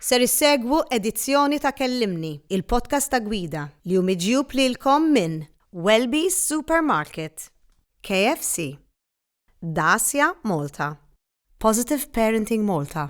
Ser issegwu edizzjoni ta' Kellimni, il-podcast ta' Gwida, li hu miġjub lilkom minn Welby's Supermarket, KFC, Dacia Malta, Positive Parenting Malta,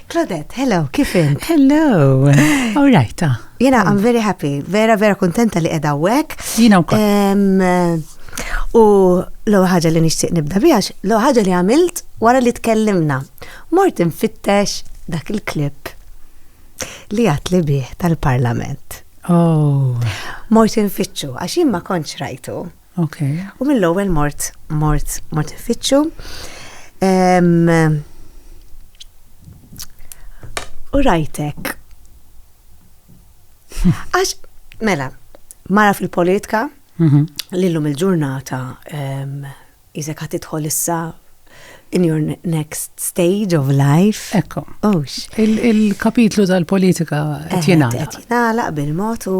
Claudette, hello, kif int? Hello, all right. Ah. Jena, I'm very happy, vera, vera kontenta li edha wek. Jena u U l ħaġa li nixtieq nibda bijax, l ħaġa li għamilt wara li tkellimna. Mort infittex dak il-klip li għatli bih tal-parlament. Oh. Mort infittxu, għax jimma konċ rajtu. Ok. U mill-ewwel mort, mort, mort ifittxu. U rajtek. Għax, mela, mara fil-politika, mhm. l-lum il-ġurnata, jizek għat idħol issa in your next stage of life. Ekko. Ux. Il-kapitlu tal-politika tjenala. Tjenala bil-mot u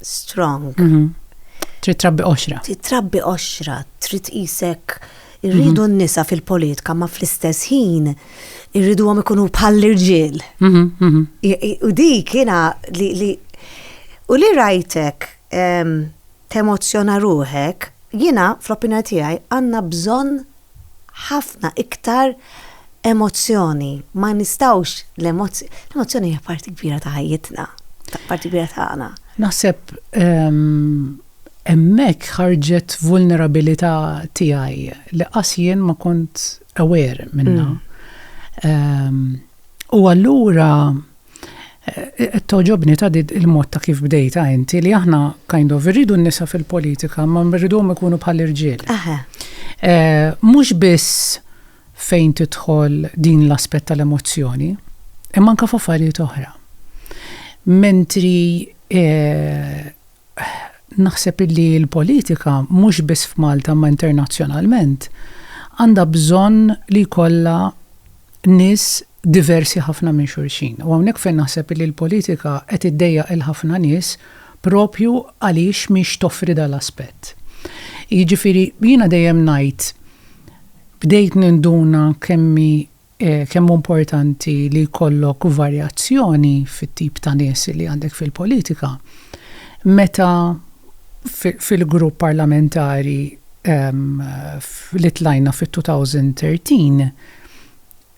strong. Mhm. Trid trabbi oxra. Trid trabbi oxra, trid isek irridu mhm. n-nisa fil-politika ma fl-istess ħin irridu għom ikunu bħall-irġiel. Mhm, u di kiena li u li rajtek temozjona ruħek, jina fl-opinja tiegħi għandna bżonn ħafna iktar emozzjoni. Ma nistgħux l-emozzjoni hija parti kbira ta' ħajjitna, parti kbira tagħna. Naħseb hemmhekk ħarġet vulnerabilità tiegħi li qas jien ma kont aware minnha. U allura Eh, toġobni ta' il-mod ta' kif bdejta inti li aħna kind of irridu n-nisa fil-politika ma mridhom ikunu bħal irġiel. Eh, mhux biss fejn tidħol din l-aspett tal-emozzjoni, imma anke f'affarijiet oħra. Mentri eh, naħseb illi l-politika mhux biss f'Malta imma internazzjonalment għandha bżonn li jkollha nies diversi ħafna minn xulxin. U hawnhekk fejn naħseb illi l-politika qed iddejjaq 'il ħafna nies proprju għaliex mhix toffri dal-aspett. Jiġifieri jiena dejjem ngħid bdejt ninduna kemm hi Kemm hu importanti li jkollok varjazzjoni fit-tip ta' nies li għandek fil-politika meta fil-grupp parlamentari li tlajna fit-2013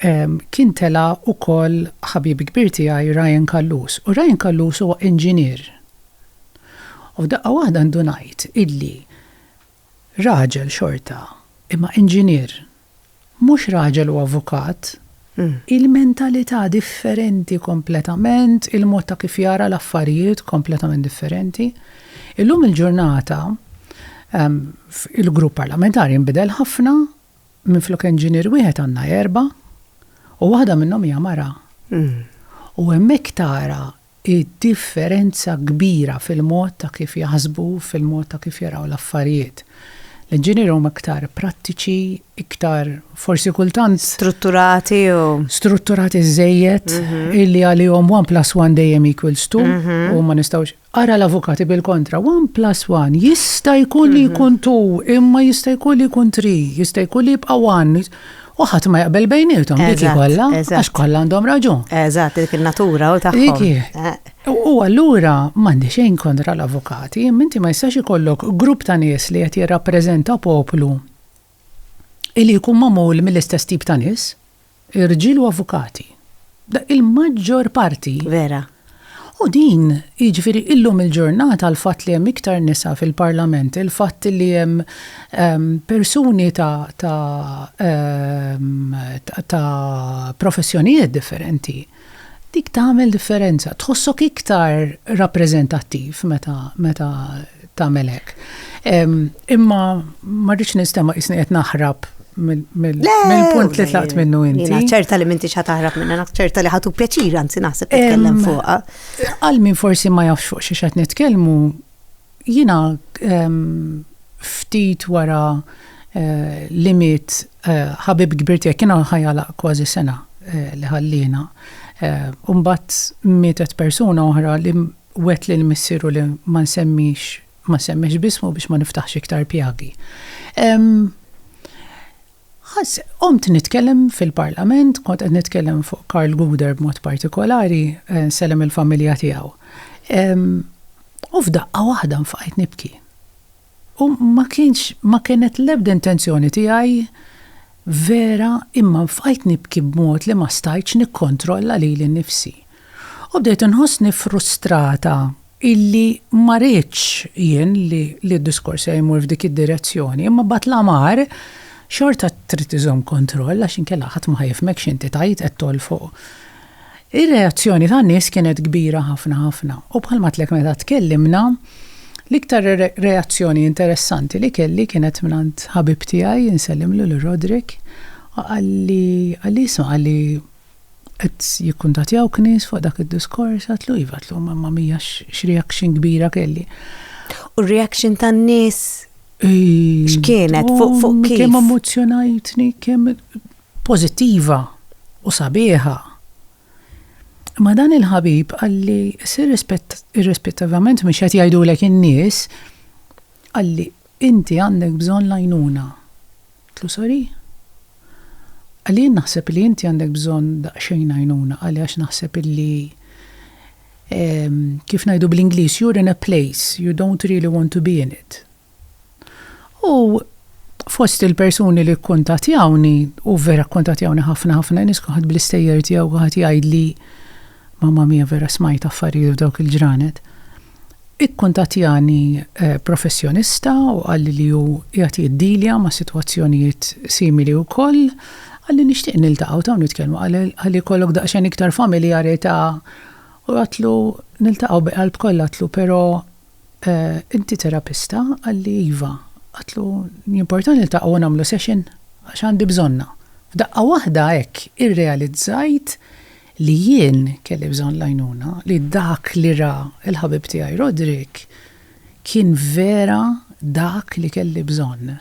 kien tela' ukoll ħabib kbir tiegħi Ryan Callus u Ryan Callus huwa inġinier u f'daqqa waħda ndunajt illi Raġel xorta, imma inġinier. Mhux raġel u avukat. Il-mentalità differenti kompletament, il-mod ta' kif jara l-affarijiet kompletament differenti. Illum il-ġurnata il-grupp parlamentari nbidel ħafna, minflok inġinier wieħed għandna erba' u waħda minnhom hija mara. U hemmhekk tara id-differenza kbira fil-mod ta' kif jaħsbu, fil-mod ta' kif jaraw l-affarijiet. L-inġinieri huma iktar prattiċi, iktar forsi kultant. Strutturati jew. Strutturati żżejjed, illi għalihom one plus one dejjem equals two, u ma nistgħux. Ara l-avukati bil-kontra, one plus one jista' jkun li jkun two, imma jista' jkun li jkun three, jista' jkun li jibqa' one. U ħadd ma jaqbel bejnietom dik kollha għax kollha għandhom raġun. Eżatt, dik in-natura u tagħhom. Eh. U allura m'għandi xejn kontra l-avukati, minti ma jistax ikollok grupp ta' nies li qed jirrappreżenta poplu li jkun magħmul mill-istess tip ta' nies, irġiel u avukati. Il-maġġor parti. Vera. U din, jiġifieri illum il-ġurnata l-fatt li hemm iktar nisa fil-Parlament, il-fatt li hemm ehm, persuni ta' ta' ehm, ta' professjonijiet differenti, dik tagħmel differenza. Tħossok iktar rappreżentattiv meta meta tagħmel hekk. Imma ma rridx nistema' isni qed naħrab mill-punt li tlaqt minnu inti. Naċċerta li minti xa taħrab minna, naċċerta li ħatu pjaċir, anzi naħseb nitkellem fuqa. Għal min forsi ma jafx fuq xi xed nitkellmu, jina ftit wara eh, limit eh, ħabib kbir tiegħek kienu ħajala kważi sena eh, li ħallina. Umbat mietet persuna oħra li Wegħed lil missieru li ma nsemmix, ma nsemmix b'ismu biex ma niftaħx iktar pjagi. Qomt nitkellem fil-Parlament, kont qed nitkellem fuq Karl Guder b'mod partikolari, nsellem il-familja tiegħu. U f'daqqa waħda nfaqajt nibki. U ma kienx, ma kienet l-ebda intenzjoni tiegħi vera imma nfqajt nibki b'mod li ma stajtx nikkontrolla lili nnifsi. U bdejt inħossni frustrata illi ma ridtx jien li d-diskors tiegħi jmur f'dik id-direzzjoni imma b'għad l-amar xorta trid iżomm kontroll għax inkella ħadd ma ħa jifhmek x'inti tgħid qed tgħoll fuq Ir-reazzjoni tan-nies kienet kbira ħafna ħafna u bħalma għedtlek meta tkellimna, l-iktar reazzjoni interessanti li kelli kienet mingħand ħabib tiegħi, nsellimlu lil Roderick, qalli, qalli isma' qalli qed jikkuntattjawk nies fuq dak id-diskors, għedtlu iva, għedtlu mamma mia x'reaction kbira kelli. U r-reaction tan-nies x'kienet fuq kif? Kemm emozzjonajtni, kemm pożittiva u sabiħa. Imma dan il-ħabib qalli sir irrispettivament mhux qed jgħidulek in-nies, qalli inti għandek bżonn l-għajnuna. Qtlu sorry? Qalli jien naħseb li inti għandek bżonn daqsxejn għajnuna, qalli għax naħseb illi ehm, kif ngħidu bl-Ingliż, you're in a place you don't really want to be in it. U fost il-persuni li kkuntatjawni, u vera kkuntatjawni ħafna ħafna nies kulħadd bl-istejjer tiegħu kulħadd jgħidli mamma mia vera smajt affarijiet f'dawk il-ġranet. Ikkuntatjani professjonista u qalli li hu qiegħed jiddilja ma' sitwazzjonijiet simili wkoll. Qalli nixtieq niltaqgħu taw nitkellmu ħalli jkollok daqsxejn iktar familjarità u għedtlu niltaqgħu bi qalb kollha għedtlu però Inti terapista? Qalli, Iva. Għedtlu, Jimportani niltaqgħu u nagħmlu session għax għandi bżonnha. F'daqqa waħda hekk irrealizzajt li jien kelli bżonn l-għajnuna, li dak li ra l-ħabib tiegħi Roderick kien vera dak li kelli bżonn.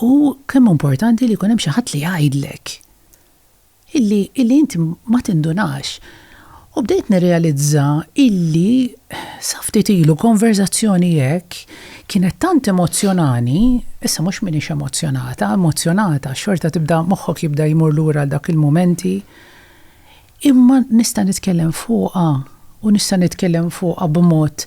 Hu kemm hu importanti li jkun hemm xi ħadd li jgħidlek. illi illi inti ma tindunax. U bdejt nirrealizza illi sa ftit ilu konverzazzjoni hekk kienet tant emozzjonani, issa mhux m'iniex emozzjonata, emozzjonata, xorta tibda moħħok jibda jmur lura għal dawk il-mumenti, imma nista' nitkellem fuqha u nista' nitkellem fuqha b'mod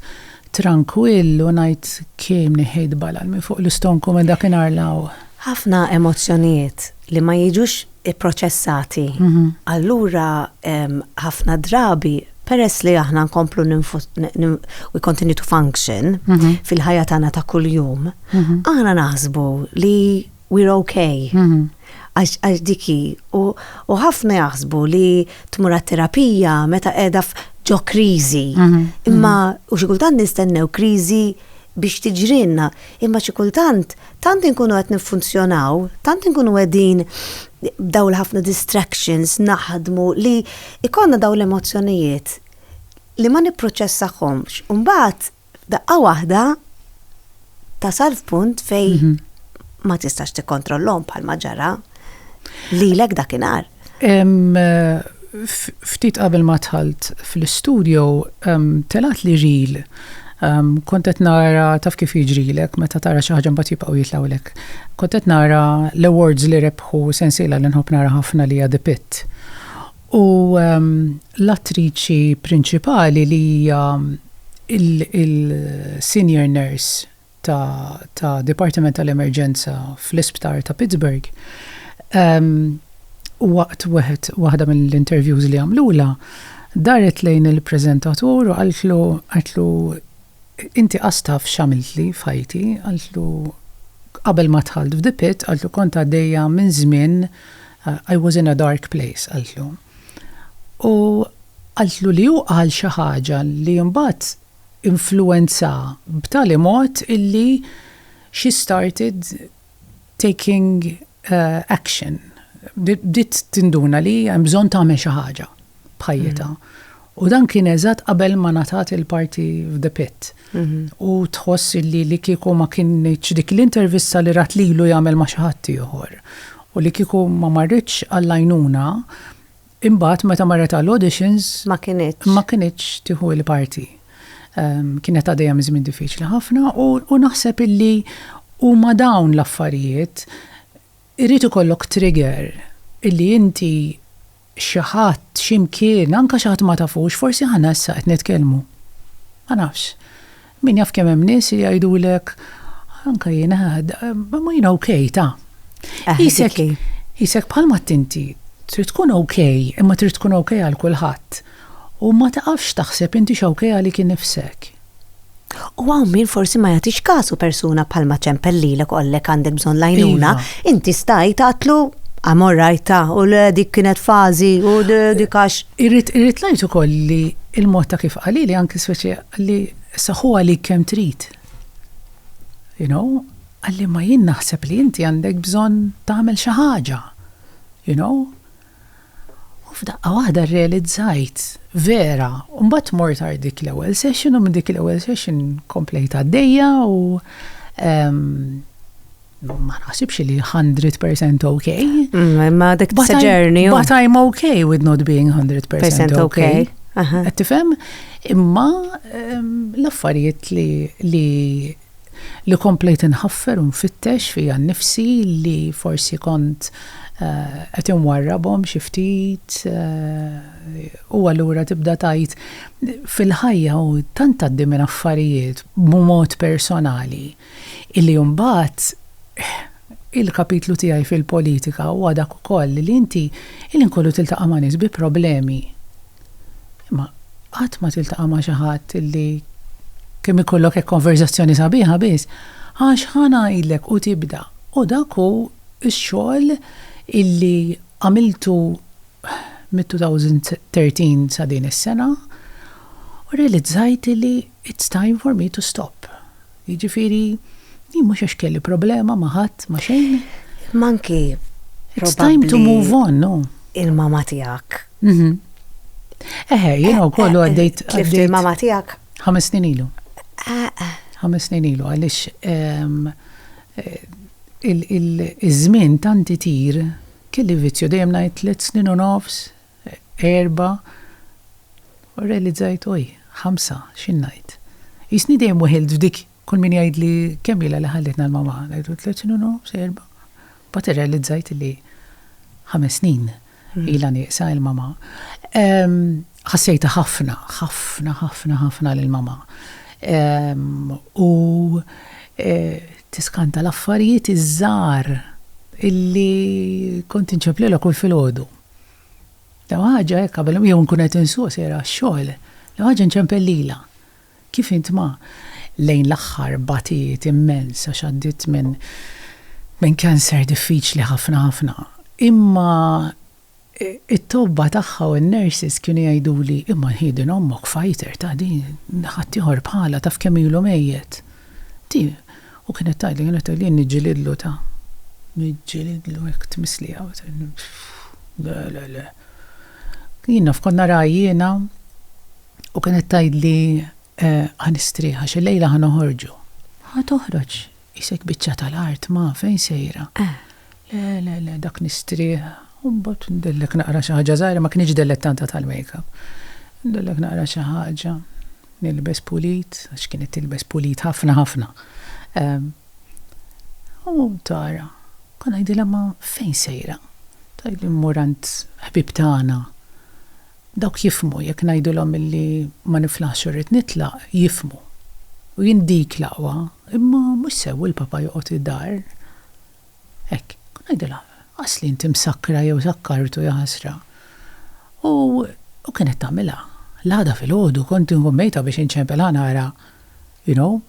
trankwill u ngħid kemm neħejt balal minn fuq l-istonku minn dakinhar 'l hawn. Ħafna emozzjonijiet li ma jiġux ipproċessati. Allura ħafna drabi peress li aħna nkomplu we continue to function mhm. fil-ħajja tagħna ta' kuljum, mhm. aħna naħsbu li we're okay. Mhm. Għax diki, u ħafna jaħsbu li tmur terapija meta qiegħda ġo kriżi. Imma u xi kultant nistennew kriżi biex tiġrinna, imma xi kultant tant inkunu qed niffunzjonaw, tant inkunu qegħdin b'daw l-ħafna distractions naħdmu li ikonna daw l-emozzjonijiet li ma nipproċessahomx. Mbagħad f'daqqa waħda tasal f'punt fej mhm. ma tistax tikkontrollhom bħal ma ġara lilek dakinhar. Ftit qabel ma tħalt fl-istudio, telat li reel. Kont qed nara taf kif jiġrilek meta tara xi ħaġa mbagħad jibqgħu jitlgħulek. Kont qed nara l-awards li rebħu sensiela li nħobb nara ħafna li hija The Pit. U l-attriċi prinċipali li hija l-senior nurse, ta' Dipartiment tal-Emerġenza fl-Isptar ta' Pittsburgh, waqt wieħed waħda mill-interviews li għamlulha, daret lejn il-preżentatur u qaltlu, qaltlu, Inti qas taf x'għamiltli f'ħajti, qaltlu, qabel ma dħalt f'The Pit, qaltlu, kont għaddejja minn żmien, I was in a dark place, qaltlu. U qaltlu li hu qal xi ħaġa li mbagħad, influwenza b'tali mod illi she started taking action, bdiet tinduna li hemm bżonn tagħmel xi ħaġa b'ħajjitha. U dan kien eżatt qabel ma ngħatat il-parti f'The Pit. U tħoss illi li kieku ma kinitx dik l-intervista li rat lilu jagħmel ma' xi ħaddieħor, u li kieku ma marritx għall-għajnuna, Imbagħad meta marret għal auditions ma kinitx ma kinitx tieħu l-parti. Ehm, kienet għadejja minn żmien diffiċli ħafna u naħseb illi huma dawn l-affarijiet irid ikollok trigger illi inti xi ħadd x'imkien anke xi ħadd ma tafux forsi ħana issa qed nitkellmu. Ma nafx. Min jaf kemm hemm nies li jgħidulek anke jien ma jien ok ta. Isek isek bħalma tinti trid tkun ok imma trid tkun ok għal kulħadd u ma taqafx taħseb inti x'ok għalik innifsek. U hawn min forsi ma jagħtix kasu persuna bħalma ċempel lilek qollek għandek bżonn l-għajnuna, inti stajt għatlu għamor rajta u l dik kienet fażi u dik għax. Irrid irrid ngħid ukoll li il-mod ta' kif qalili anki speċi Qalli, Issa ħu għalik kemm trid. You know? Qalli, Imma jien naħseb li inti għandek bżonn tagħmel xi ħaġa. You know? U f'daqqa waħda rrealizzajt, vera, u mbagħad mort għar dik l-ewwel session u minn dik l-ewwel session komplejt għaddejja u, ehm, Ma naħsibx li 100% ok. Mm, ma dik but journey. But I'm ok with not being 100% ok. Għattifem? Imma ehm, l-affarijiet li li li komplejt nħaffer un fittex fija nifsi li forsi kont eh, qed inwarrabhom xi ftit eh, u allura tibda tajt fil-ħajja u tant għaddi minn affarijiet b'mod personali Illi imbagħad il-kapitlu tiegħi fil-politika huwa dak ukoll illi inti il-ħin kollu tiltaqa' ma' nies bi problemi. Imma qatt ma tiltaqa' ma' xi ħadd illi kemm ikollok hekk konverżazzjoni sabiħa biss, għax ħa ngħidlek u tibda. U dak hu x-xogħol illi għamiltu mit-2013 sa din is-sena u rrealizzajt illi It's time for me to stop. Jiġifieri, jien mhux għax kelli problema ma' ħadd, ma' xejn. Imma anki It's time to move on, no? Il-mama tiegħek. Eħe, jien wkoll għaddejt. Tlift il-mama tiegħek? Ħames snin ilu. Ħames snin ilu għaliex iż-żmien tant itir kelli vizzju dejjem ngħid tliet snin u nofs, erba' u rrealizzajt oj, ħamsa, xi ngħid. Qisni dejjem weħilt f'dik kull min jgħidli kemm ilha li ħallitna l-mamma, ngħidlu tliet snin u nofs, erba'. Mbagħad irrealizzajt li ħames snin ilha nieqsa il-mamma. Ħassejtha ħafna, ħafna, ħafna, ħafna lill-mamma. U tiskanta l-affarijiet iż-żgħar illi kont inċemplilha kull filgħodu. L-ewwel ħaġa hekk qabel jew nkun qed insuq sejra għax-xogħol, l-ewwel ħaġa nċempel lilha. Kif int ma, lejn l-aħħar batiet immens għax għaddiet minn minn cancer diffiċli ħafna ħafna. Imma it-tobba tagħha u n-nurses kienu jgħiduli, imma nħieden ommok fighter ta' din, ħaddieħor bħalha taf kemm ilu mejjet. Di U kienet tgħidli, kienet tgħidli jien niġġilidlu ta', niġġilidlu hekk tmissliha, le, le, le. Jien naf kont naraha jiena u kienet tgħidli ħa nistrieħ għax illejla ħa noħorġu. Ħa toħroġ, qisek biċċa tal-art ma, fejn sejra? Le, le, le, dak nistrieħ. U mbagħad ndellek naqra xi ħaġa żgħira, ma kinitx dellet tant għad tal-makeup. Ndellek naqra xi ħaġa, nilbes pulit, għax kienet tilbes pulit ħafna ħafna. U tara, kont ngħidilha ma fejn sejra? Tgħidli mmur għand ħbieb tagħna. Dawk jifhmu, jekk ngħidilhom illi ma niflaħx u rrid nitlaq, jifhmu. U jien dik l-aqwa, imma mhux sew il-papa joqgħod id-dar. Hekk, ngħidilha, Asli inti msakkra jew sakkartu, jaħasra. U kienet tagħmilha. L-għada filgħodu kont inkun mejta biex inċempilha nara, you know.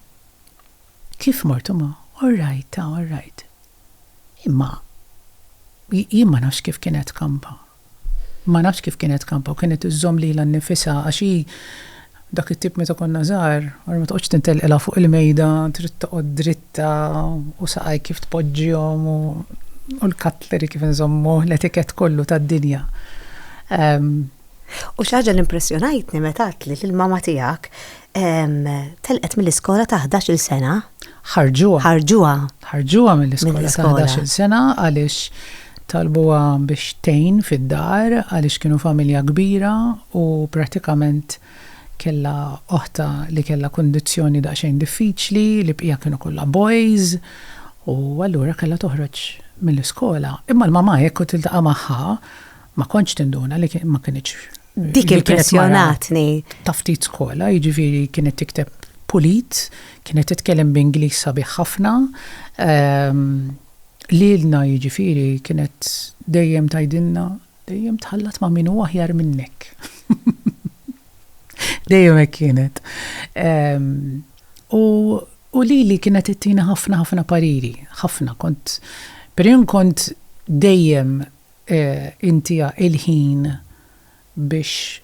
Kif mort imma, all right, ta, all right. Imma jien ma nafx kif kienet kampa. Ma nafx kif kienet kampa u kienet iżżomm lilha nnifisha għax hi dak it-tip meta konna żgħar, ara ma toqgħodx tintelqilha fuq il-mejda, trid toqgħod dritta u saqajk kif tpoġġihom u u l-cutlery kif inżommuh, l-etiquette kollu tad-dinja. U xi ħaġa li impressjonajtni meta għedtli li l-mamma tiegħek telqet mill-iskola ta' ħdax-il sena. ħarġuha. Ħarġuha. Ħarġuha mill-iskola ta' ħdax-il sena għaliex talbuha biex tgħin fid-dar għaliex kienu familja kbira u prattikament kellha oħtha li kellha kundizzjoni daqsxejn diffiċli, l-ibqija kienu kollha boys u allura kellha toħroġ mill-iskola. Imma l-mamà jekk kont tiltaqa' magħha ma kontx tinduna li ma kinitx Dik impressjonatni. Ta' ftit skola, jiġifieri kienet tikteb pulit, kienet titkellem b'Ingliż sabiħ ħafna. Ehm, lilna jiġifieri kienet dejjem tajdinna, dejjem tħallat ma' min huwa aħjar minnek. dejjem hekk kienet. Ehm, u u li li kienet ittina ħafna ħafna pariri, ħafna kont, per kont dejjem Inti ha il-ħin biex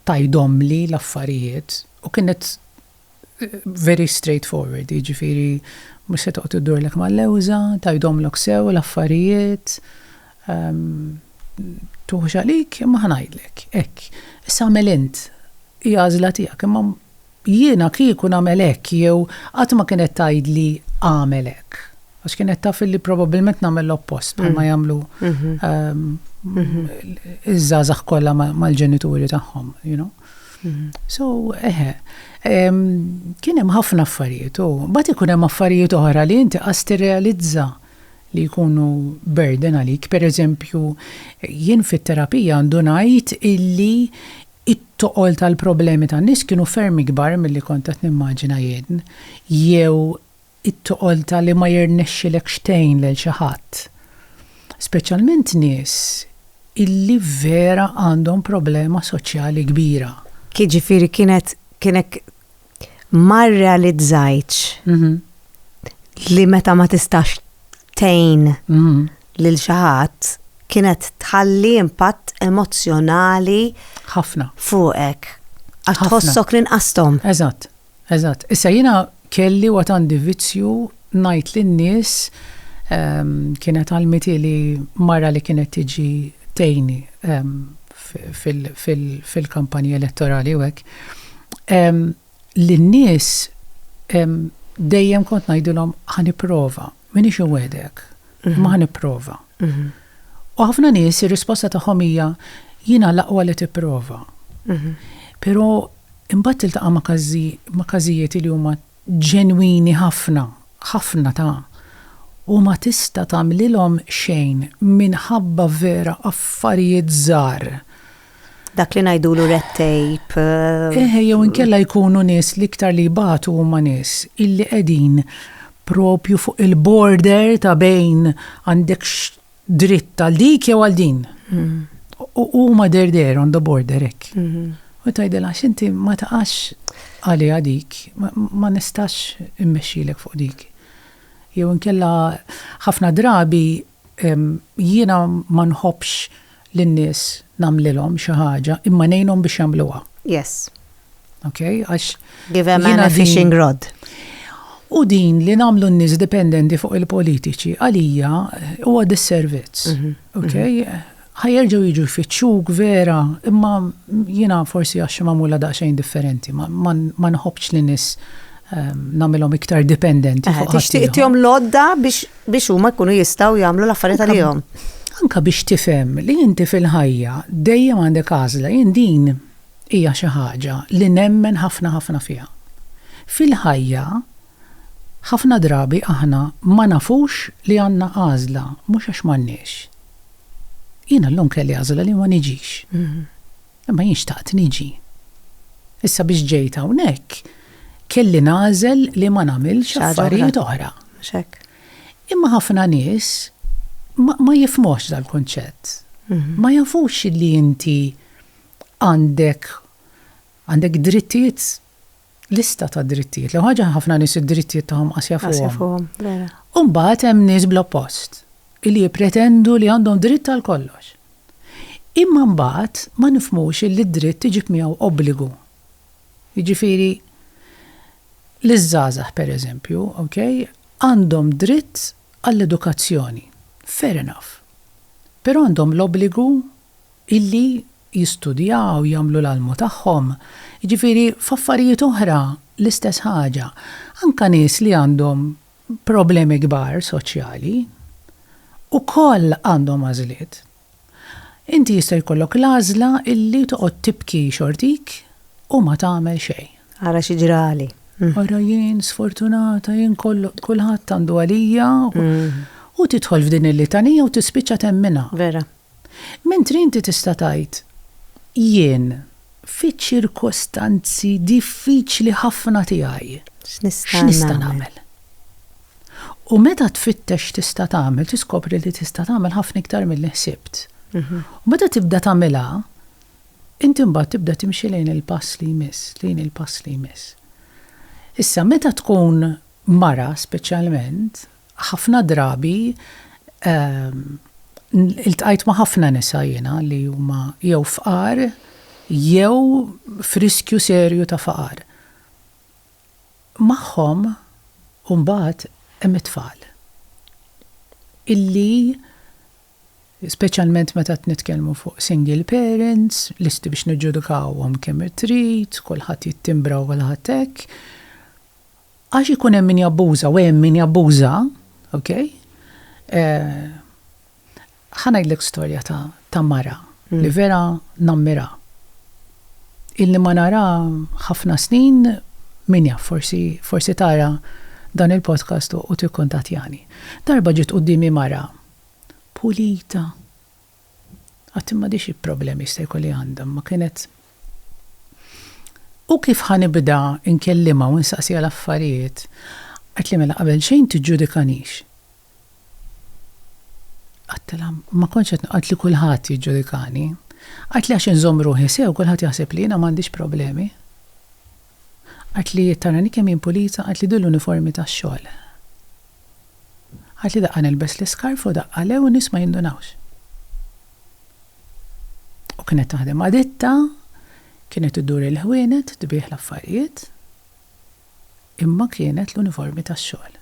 tgħidhomli l-affarijiet. U kienet very straight forward, jiġifieri mhux se toqgħod iddurlek mal-lewża, tgħidhomlok sew l-affarijiet, tuħux għalik, imma ħa ngħidlek, hekk. Issa għamel int, hi għażla tiegħek, imma Jiena kieku nagħmel hekk jew qatt ma kienet tgħidli agħmel hekk. Għax kienet taf illi probabbilment nagħmel l-oppost bħalma mm. jagħmlu mm-hmm. ehm, mm-hmm. iż-żgħażagħ kollha mal-ġenituri tagħhom, you know. Mm-hmm. So, eħe, ehm, kien hemm ħafna affarijiet u bat ikun hemm affarijiet oħra li inti qas tirrealizza li jkunu burden għalik. Per eżempju, jien fit-terapija għandu ngħid illi It-toqol tal-problemi tan-nies kienu ferm ikbar milli kont qed nimmaġina jien, jew it-toqol ta' li ma jirnexxilekx tgħin lil xi ħadd. Speċjalment nies illi vera għandhom problema soċjali kbira. Jiġifieri kienet, kien hekk ma rrealizzajtx li meta ma tistax tgħin lil xi ħadd kienet tħalli impatt emozzjonali ħafna fuqek. Għax tħossok ninqasthom. Eżatt, eżatt. Issa jiena kelli u għandi vizzju ngħid lin-nies ehm, kienet għalmiti li mara li kienet tiġi tgħini ehm, fil-kampanji elettorali u hekk, li n-nies dejjem kont ngħidilhom ħa nipprova, m'iniex inwegħdek, imma ħa nipprova. U ħafna nies ir-risposta tagħhom hija jiena l-aqwa li tipprova. Però imbagħad tiltaqa' ma' każijiet li huma ġenwini ħafna, ħafna ta', u ma tista' tagħmlilhom xejn minħabba vera affarijiet żgħar. Dak li ngħidulu red tape. Eħe jew inkella jkunu nies l-iktar li jbatu huma nies illi qegħdin propju fuq il-border ta' bejn għandek dritt għal dik jew għal din. Mm. U huma der der on the border hekk. Mm-hmm. U tgħidilha x'inti ma taqax għaliha dik, ma nistax immexxilek fuq dik. Jew inkella ħafna drabi jiena ma nħobbx lin-nies nagħmlilhom xi ħaġa imma ngħinhom biex jagħmluha. Yes. Ok, għax. Give a man a fishing rod. U din li namlu n-nis dipendenti fuq il-politiċi għalija huwa disservizz. Mhm, ok, mhm. ħajerġu jiġu jfittxuk vera, imma jina forsi għax mamula daqsxejn differenti, ma nħobċ li nis ehm, namilom iktar dipendenti. Eh, tixtieq tihom lodda biex huma jkunu jistgħu jagħmlu l-affarijiet għalihom. Anka biex tifhem li inti fil-ħajja dejjem għandek għażla, jien din Hija xi ħaġa li nemmen ħafna ħafna fiha. Fil-ħajja, ħafna drabi aħna ma nafux li għandna għażla, mhux għax m'għandniex. Jiena llum kelli għażla li ma niġix. Imma jien xtaqt niġi. Issa biex ġejt hawnhekk, kelli nagħżel li ma nagħmilx affarijiet oħra. Imma ħafna nies ma jifhmuhx dal-kunċett. Ma jafux li inti għandek għandek drittijiet lista ta' drittijiet. L-ewwel ħaġa ħafna nies id-drittijiet tagħhom qasja Għasja fuqhom. fuqhom, vera. U mbagħad hemm nies bl-oppost li jippretendu li għandhom dritt għal kollox. Imma mbagħad ma nifhmux li d-dritt iġib miegħu obbligu. Jiġifieri liż-żgħażagħ pereżempju, okay, għandhom dritt għall-edukazzjoni. Fair enough. Però għandhom l-obbligu illi jistudjaw, jagħmlu l-almu tagħhom, jiġifieri f'affarijiet oħra l-istess ħaġa, anke nies li għandhom problemi kbar soċjali, ukoll għandhom għażliet. Inti jista' jkollok l-għażla illi toqgħod tibki xortik u ma tagħmel xejn. Ara xi ġrali. Ara jien sfortunata, jien kollox, kulħadd għandu għalija, u tidħol f'din il-litanija u tispiċċa temminha. Vera. Mentri inti tista' tgħid, Jien, fiċ-ċirkostanzi diffiċli ħafna tiegħi, x'nista' nagħmel? U meta tfittex x'tista' tagħmel, tiskopri li tista' tagħmel ħafna iktar milli ħsibt. U meta tibda tagħmilha, inti mbagħad tibda timxi lejn il-pass li jmiss, lejn il-pass li jmiss. Issa, meta tkun mara speċjalment, Ħafna drabi iltqajt ma' ħafna nisa jiena li huma jew fqar jew f'riskju serju ta' faqar. Magħhom imbagħad hemm it-tfal illi, speċjalment meta qed nitkellmu fuq single parents, lesti biex niġġudikawhom kemm trid, kulħadd jittimbra u kulħadd hekk, Għax ikun hemm min jabbuża u hemm min jabbuża, ok? Ħa ngħidlek storja ta' ta' mara li vera nammirha. Ilni ma narha ħafna snin, min jaf forsi forsi tara dan il-podcast u tikkuntattjani. Darba ġiet quddiemi mara pulita, Qatt m'għadhiex il-problemi jista' jkun li għandha, imma kienet, U kif ħa nibda nkellimha u nsaqsiha l-affarijiet? Għidtli, Mela qabel xejn tiġġudikanix. Għidtilha, Ma kontx qed, qaltli, Kulħadd jiġġudikani. Għidtli, Għax inżomm ruħi sew, kulħadd jaħseb li jiena m'għandix problemi. Għidt li taranih kemm jien pulita, għidt li din l-uniformi tax-xogħol. Għidt li daqqa nilbes l-iskarf u daqqa le u n-nies ma jindunawx. U kienet taħdem ma' ditta, kienet iddur il-ħwienet, tbigħ l-affarijiet, imma kienet l-uniformi tax-xogħol.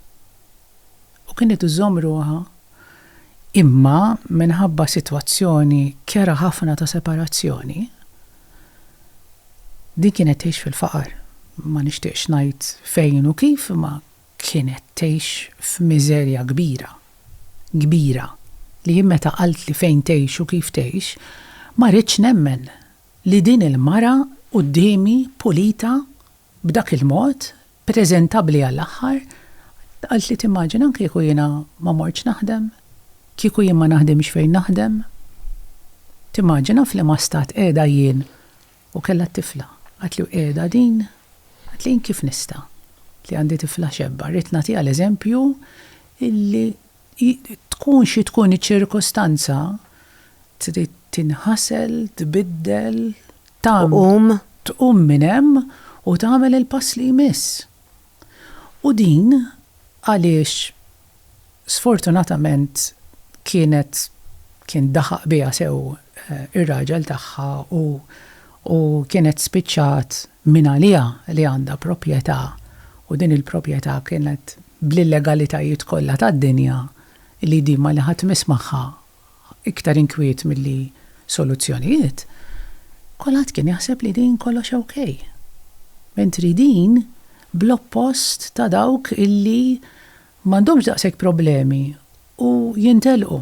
u kienet iżomm ruħha. Imma minħabba sitwazzjoni kerha ħafna ta' separazzjoni, din kienet tgħix fil-faqar. Ma nixtieqx ngħid fejn u kif, imma kienet tgħix f'miżerja kbira, kbira, li jien meta qaltli fejn tgħix u kif tgħix, ma ridtx nemmen li din il-mara quddiemi pulita B'dak il-mod, preżentabbli għall-aħħar, qalt li timmaġina kieku jiena ma mortx naħdem, kieku jien ma naħdimx fejn naħdem. Timmaġina f'liema stat qiegħda jien u kellha t-tifla. Qatli u qiegħda din? Qatli jien kif nista', li għandi tifla xebba, rrid nagħtiha l-eżempju illi. Tkun xi tkun iċ-ċirkustanza, trid tinħasel, tbiddel, tagħmel, tqum minn hemm u tagħmel il-pass li jmiss. U din għaliex sfortunatament kienet kien daħaq biha sew ir-raġel tagħha u u kienet spiċċat mingħaliha li għandha proprjetà u din il-proprjetà kienet bl-illegalitajiet kollha tad-dinja li din ma li ħadd miss magħha iktar inkwiet milli soluzzjonijiet, kulħadd kien jaħseb li din kollox ok. Mentri din bl-oppost ta' dawk illi m'għandhomx daqshekk problemi u jintelqu.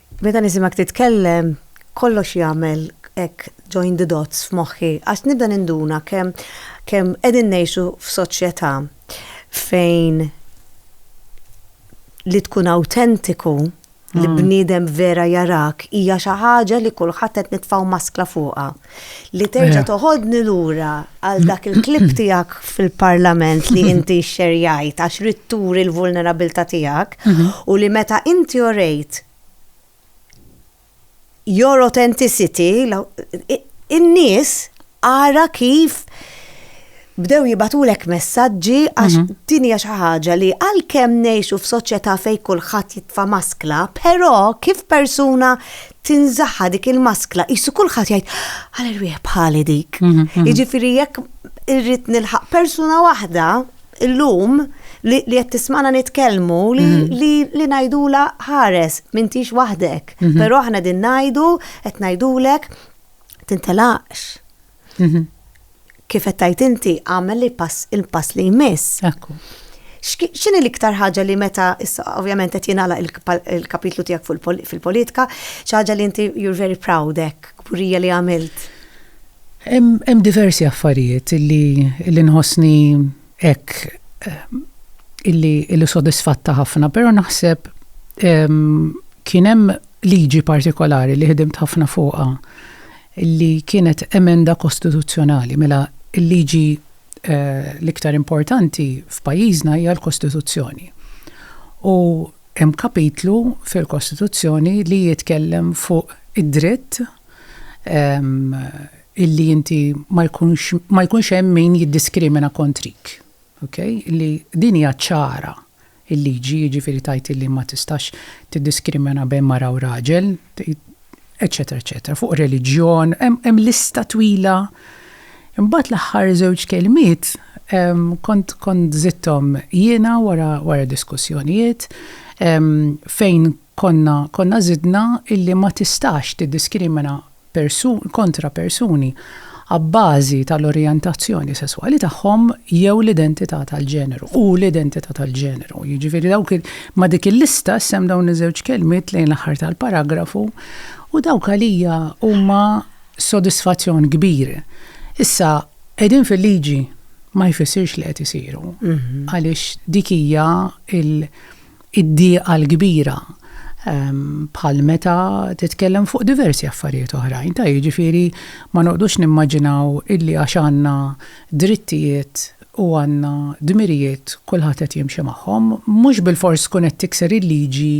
Meta nisimgħek titkellem, kollox jagħmel hekk join the dots f'moħħi għax nibda ninduna kemm kemm qegħdin ngħixu f'soċjetà fejn li tkun awtentiku li bniedem vera jarak hija xi ħaġa li kulħadd qed nitfgħu maskla fuqha. li terġa eh. toħodni lura għal dak il-klib tijak fil-parlament li inti xerjajt għax ritturi l-vulnerabilta tijak mhm. u li meta inti orejt your authenticity in-nies għara kif bdew jibatulek messaġġi għax mhm. din hija xi ħaġa li għalkemm ngħixu f'soċjetà fejn kulħadd jitfa' maskla, però kif persuna tinżaħħa dik il-maskla, jissu kulħadd jgħid, għal irwieħ bħali dik. Mhm, mhm. Jiġifieri jekk irrid nilħaq persuna waħda illum li qed tismana nitkellmu li mhm. ngħidula ħares m'intix waħdek. Però aħna din ngħidu qed ngħidulek tintelaqx. Mhm. Kif qed tgħid inti, għamel il-pass il-pass li jmiss. Ekku. X'ki- X'inhi l-iktar ħaġa li meta issa ovvjament qed jingħalaq il-kpa- il-kapitlu tiegħek fuq il-pol- fil-politika, xi ħaġa li inti you're very proud hekk, kburija li għamilt. Hemm hemm diversi affarijiet illi illi nħossni hekk eh, illi illi sodisfatta ħafna, però naħseb em, kien hemm liġi partikolari li ħdimt ħafna fuqha li kienet emenda kostituzzjonali, mela l-liġi l-iktar importanti f'pajjiżna hija l-Kostituzzjoni. U hemm kapitlu fil-Kostituzzjoni li jitkellem fuq id-dritt illi inti ma jkunx, ma jkunx hemm min jiddiskrimina kontrik. Ok? Li din hija ċara il-liġi, jiġifieri tgħid illi ma tistax tiddiskrimina bejn mara u raġel, eċċetera eċċetera, fuq reliġjon, hemm lista twila. Imbagħad l-aħħar żewġ kelmiet kont kont żitthom jiena wara wara diskussjonijiet fejn konna konna żidna illi ma tistax tiddiskrimina kontra persuni abbażi tal-orjentazzjoni sesswali tagħhom jew l-identità tal-ġeneru, u l-identità tal-ġeneru. Jiġifieri dawk ma' dik il-lista issem dawn iż-żewġ kelmiet lejn l-aħħar tal-paragrafu u dawk għalija huma sodisfazzjon kbir. Issa, qegħdin fil-liġi ma jfissirx li qed isiru għaliex dik hija id-dieqa l-kbira bħal meta titkellem fuq diversi affarijiet oħrajn, ta' jiġifieri ma noqgħdux nimmaġinaw illi għax għandna drittijiet u għandna dmirijiet kulħadd qed jimxi magħhom, mhux bilfors tkun qed tikser il-liġi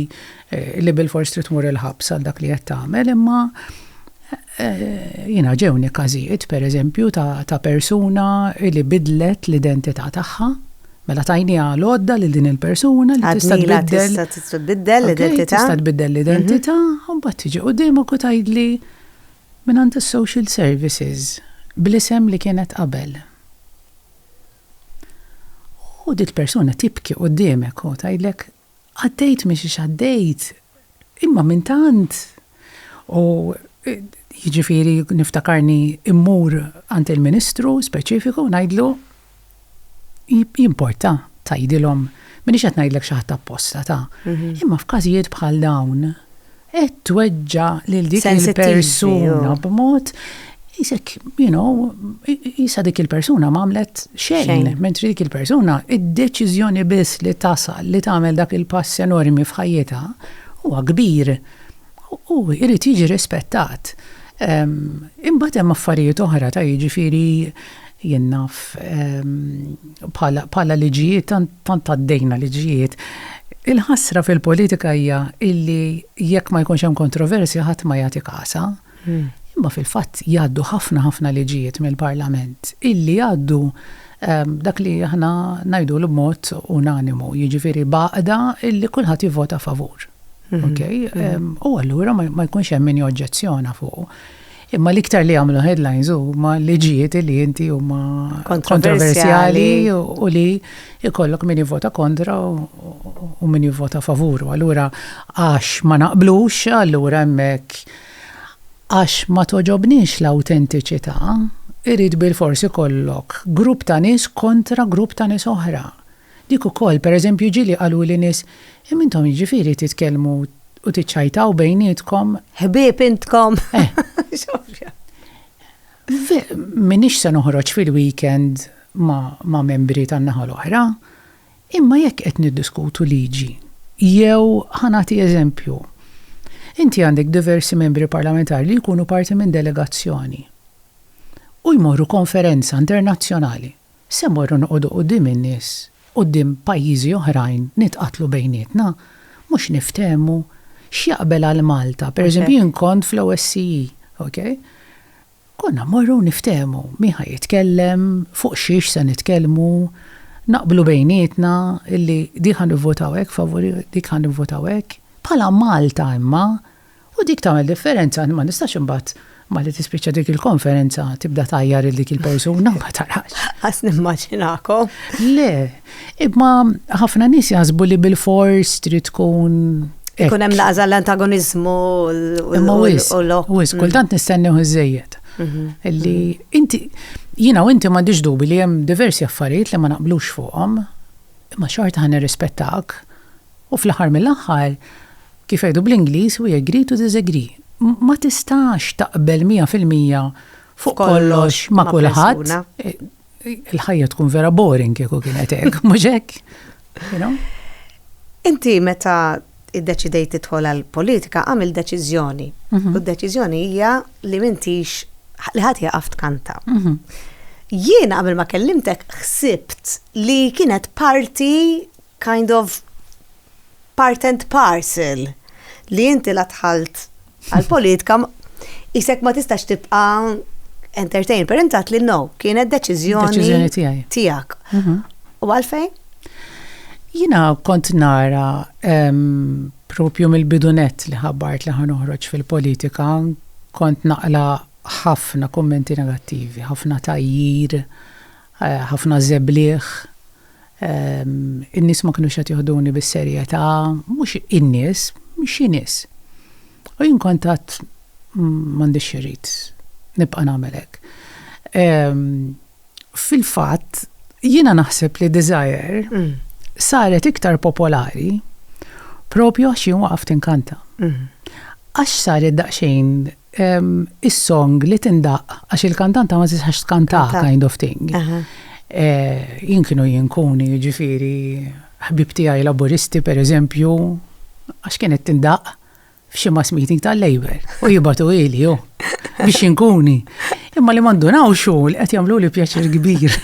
li bilfors trid tmur il-ħabs għal dak li qed tagħmel imma Jiena ġewni każijiet, pereżempju, ta' persuna li bidlet l-identità tagħha, mela tajniha l-għodda lil din il-persuna li tista' tbiddel. Tista' tbiddel l-identità. Tista' tbiddel l-identità, u mbagħad tiġi quddiemok u tgħidli, mingħand is-social services, bl-isem li kienet qabel. U dik il-persuna tibki quddiemek u tgħidlek, Għaddejt minn xiex għaddejt, imma minn tant, u jiġifieri niftakarni mmur għand il-Ministru speċifiku u ngħidlu, jimporta tgħidilhom, m'iniex qed ngħidlek xi ħadd apposta ta, imma f'każijiet bħal dawn, Qed tweġġa' lil dik il-persuna b'mod qisek, you know, qisha dik il-persuna m'għamlet xejn, mentri dik il-persuna id-deċiżjoni biss li tasal li tagħmel dak il-pass enormi f'ħajjitha huwa kbir u jrid jiġi rispettat. Imbagħad hemm affarijiet oħra ta' jiġifieri Jien naf bħala bħala liġijiet tant tant għaddejna liġijiet. Il-ħasra fil-politika hija illi jekk ma jkunx hemm kontroversja ħadd ma jagħti kasha. Imma fil-fatt jgħaddu ħafna ħafna liġijiet mill-Parlament illi jgħaddu dak li aħna ngħidulu b'mod unanimu, jiġifieri b'għaqda illi kulħadd jivvota favur. Okej? U allura ma jkunx hemm min joġġezzjona fuqu. Imma l-iktar li għamlu headlines u ma li ġiet li jinti u ma kontroversjali u li ikollok min vota kontra u min vota favuru. Allura, għax ma naqblux, allura emmek għax ma toġobnix l-autentiċita, irrid bil-forsi kollok grupp ta' nis kontra grupp ta' nis oħra. Dik ukoll, per eżempju, ġieli qaluli nies, Imma intom jiġifieri titkellmu u tiċċajtaw bejnietkom? Ħbieb intkom! M'iniex se noħroġ fil-weekend ma' membri tan-naħa l-oħra, imma jekk qed niddiskutu liġi, jew ħa nagħti eżempju, inti għandek diversi membri parlamentari li jkunu parti minn delegazzjoni u jmorru konferenza internazzjonali. Se mmorru noqogħdu quddiem in-nies, quddiem pajjiżi oħrajn, nitqatlu bejnietna, mhux niftehmu x'jaqbel għal Malta. Pereżempju jien kont fl-OSCE, okay? Konna mmorru u niftehmu min ħa jitkellem, fuq xiex se nitkellmu, naqblu bejnietna illi din ħa nivvotaw hekk favur, dik ħa nivvotaw hekk. Bħala Malta imma U dik tagħmel differenza, ma nistax imbagħad malli tispiċċa dik il-konferenza tibda tajjar il dik il-persuna ma tarax. Għas nimmaġinakom. Le, imma ħafna nies jaħsbu li bil-fors trid tkun. Ikun hemm laża l-antagonizmu u l-ok. Wis, mm. kultant nistennew iżejjed. Mhm. Illi mhm. inti jiena u inti m'għandix dubi li hemm diversi affarijiet li ma naqblux fuqhom, imma xorta ħan irrispettak U fl-aħħar mill-aħħar, kif jgħidu bl-Ingliż, we agree to disagree. Ma tistax taqbel mija fil-mija fuq kollox ma' kulħadd. Il-ħajja tkun vera boring kieku kienet hekk, mhux hekk. Inti meta iddeċidejt tidħol għal politika għamil deċiżjoni. Mhm. U d-deċiżjoni hija li mintix li ħadd jaqaf tkanta. Mhm. Jiena qabel ma kellimtek ħsibt li kienet parti kind of part and parcel li inti la dħalt għall-politika isek ma tistax tibqa' entertain. Per intat li no, kienet deċiżjoni tiegħek. Mhm. U għalfejn? Jina kont nara propju mill-bidunet li ħabbart li ħanoħroġ fil-politika, kont naqla ħafna kommenti negattivi, ħafna tajjir, eh, ħafna zebliħ, In-nies ma kinux qed joħduni bis-serjetà, mhux in-nies, xi nies. U jien kont għad m'għandix irrid nibqa' nagħmel hekk. Fil-fatt, jiena naħseb li Desire saret iktar popolari propju għax jien waqaft inkanta. Għax saret daqsxejn is-song li tindaqq għax il-kantanta ma tistax tkanta kind of thing. Eh, jien kienu jinkuni ġifiri ħbib tiegħi laburisti per eżempju għax kienet tindaqq f'xi mass meeting tal-Labor u jibatu ili jo biex jinkuni. Imma li mandunaw xu li qed jagħmlu li pjaċir kbir.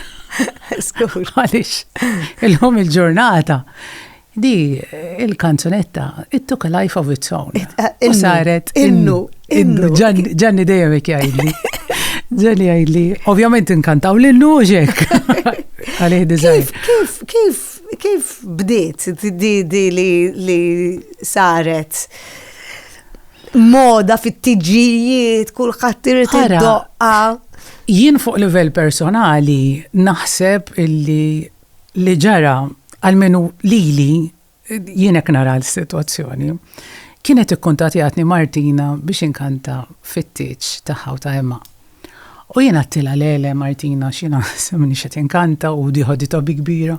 Skur. Għaliex il-lum il-ġurnata Di il-kanzunetta, it took a life of its own. U saret. Innu, innu. Ġanni dejjem jgħidli. Ġanni jgħidli, ovvjament inkantaw l-innu u ġek. Għalih dizajn. Kif, kif, kif bdiet di di li saret? moda fit-tiġijiet, kulħadd irid id-doqqa. Jien fuq livell personali naħseb illi li ġara għalmenu lili jien hekk nara l-sitwazzjoni. Kienet ikkuntatjatni Martina biex inkanta fit-tieġ tagħha u ta' Emma. U jien għattilha le le Martina x'jiena minni qed inkanta u di ħoditha bi kbira.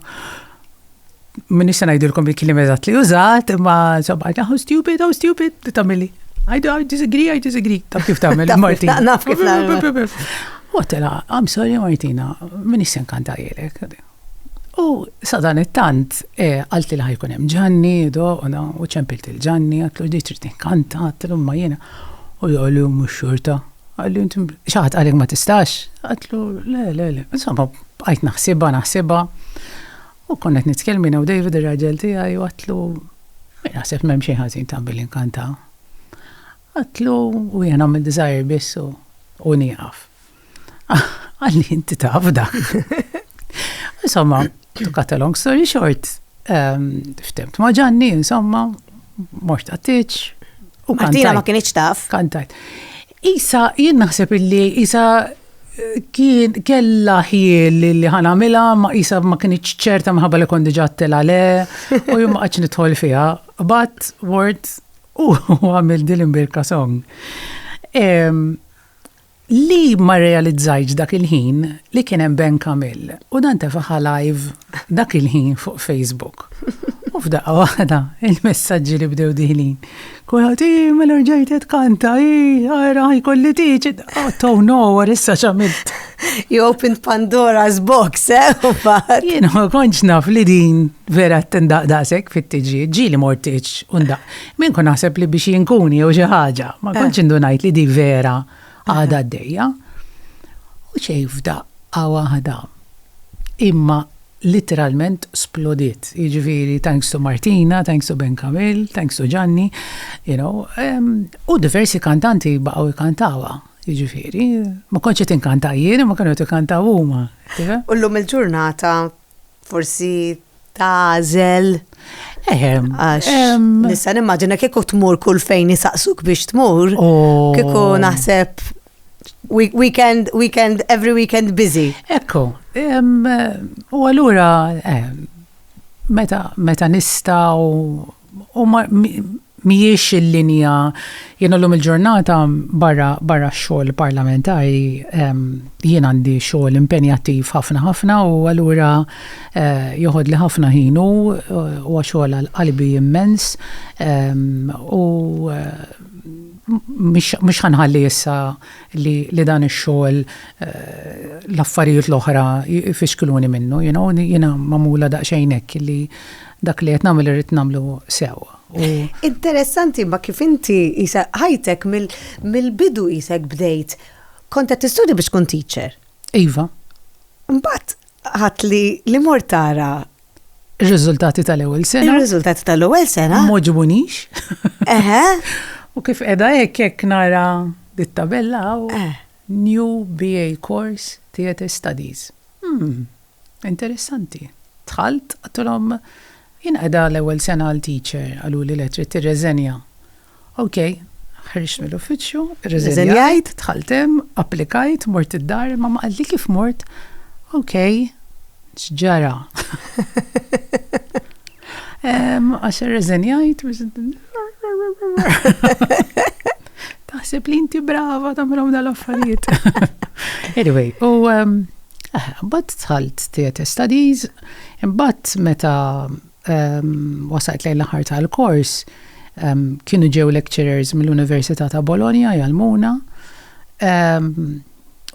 Minni se ngħidilkom il-kliem eżatt li użat, imma sabba oh stupid, oh stupid, tagħmilli. I disagree, I disagree. Ta' kif tagħmel Martina. Naf kif Waqt tela, I'm sorry Martina, minix se nkanta lilek. U sadan it-tant, eh, qalt li ħajkun hemm Ġanni, do, u ċempilt il-Ġanni, għatlu ġdi trid tinkanta, għatlu ma jiena. U jgħalli u mux xorta. Għalli inti xaħat għalek ma tistax. Għatlu, le, le, le. Insomma, bqajt naħsiba, naħsiba. U konnet nitkelmina u David ir-raġel tiegħi u għatlu, naħseb m'hemm xejn ħażin ta' billi nkanta. Għidtlu u jien nagħmel desire biss u nieqaf. Qal li inti taf dak. Insomma, to cut a long story short, ehm, ftemt ma' ġanni, insomma, mort għattiċ. U Martina ma kienieċ taf. Kantajt. Isa, jien naħseb illi Isa eh, kien kella ħiel li ħana mila, ma Isa ma kienieċ ċerta maħabba li kondi ġattela le, u jum għax nidħol fija. But, word, U għamilt din l-imbirka song. Ehm, li ma realizzajtx dak il-ħin li kien hemm Ben Kamil u dan tefaħa live dak il-ħin fuq Facebook. U f'daqqa waħda il-messaġġi li bdew diħlin. Kulħadd i mela rġajt qed kanta, i ara jkolli tiġi. Oh, to no, issa x'għamilt. You opened Pandora's box, eh? Jien ma konċ naf li din vera tendaq daqsek fit-tiġi, ġili mortiċ undaq. Min kun naħseb li biex jinkuni jew xi ħaġa, ma eh. konċ indunajt li di vera għada d-dejja. U xej f'daq għawa ħada. Imma literalment splodit. Iġviri, thanks to Martina, thanks to Ben Kamil, thanks to Gianni, you know, um, u diversi kantanti baqaw ikantawa. Jiġifieri, ma kontx qed inkanta jien, ma kienu qed ikantaw huma. U llum il-ġurnata forsi tagħżel. Ehem. Għax nista' nimmaġina kieku tmur kull fejn isaqsuk biex tmur, oh. kieku naħseb weekend, weekend, every weekend busy. Ekku, u allura meta nista' u Mhijiex il-linja, jiena llum il-ġurnata barra barra x-xogħol parlamentari jien għandi xogħol impenjattiv ħafna ħafna u allura joħodli ħafna ħin u huwa xogħol għal qalbi immens u mhix mhux ħa nħalli issa li li dan ix-xogħol l-affarijiet l-oħra jfixkluni minnu you know jiena magħmula daqsxejn hekk li dak li qed nagħmel irrid nagħmlu sew. Interessanti ma kif inti isa ħajtek mill-bidu isek bdejt. Kont qed tistudja biex tkun teacher. Iva. Mbagħad ħadd li li mor tara Ir-riżultati tal-ewwel sena. Ir-riżultati tal-ewwel sena. Moġbunix. Eħe. U kif qiegħda hekk hekk nara dit-tabella u eh. New BA Course Theatre Studies. Hmm. Interessanti. Dħalt, għadtilhom, Jien qiegħda l-ewwel sena għal teacher, qaluli le, trid tirreżenja. Ok, ħriġt mill-uffiċċju, irreżenjajt, dħalt hemm, applikajt, mort id-dar, imma ma qalt li kif mort, Ok, x'ġara? Għax irreżenjajt biex. Taħseb li inti brava tagħmilhom dal-affarijiet. Anyway, u mbagħad tħalt theatre studies, imbagħad meta wasajt lejn l-aħħar tal-kors, kienu ġew lecturers mill-Università ta' Bologna jgħalmuna.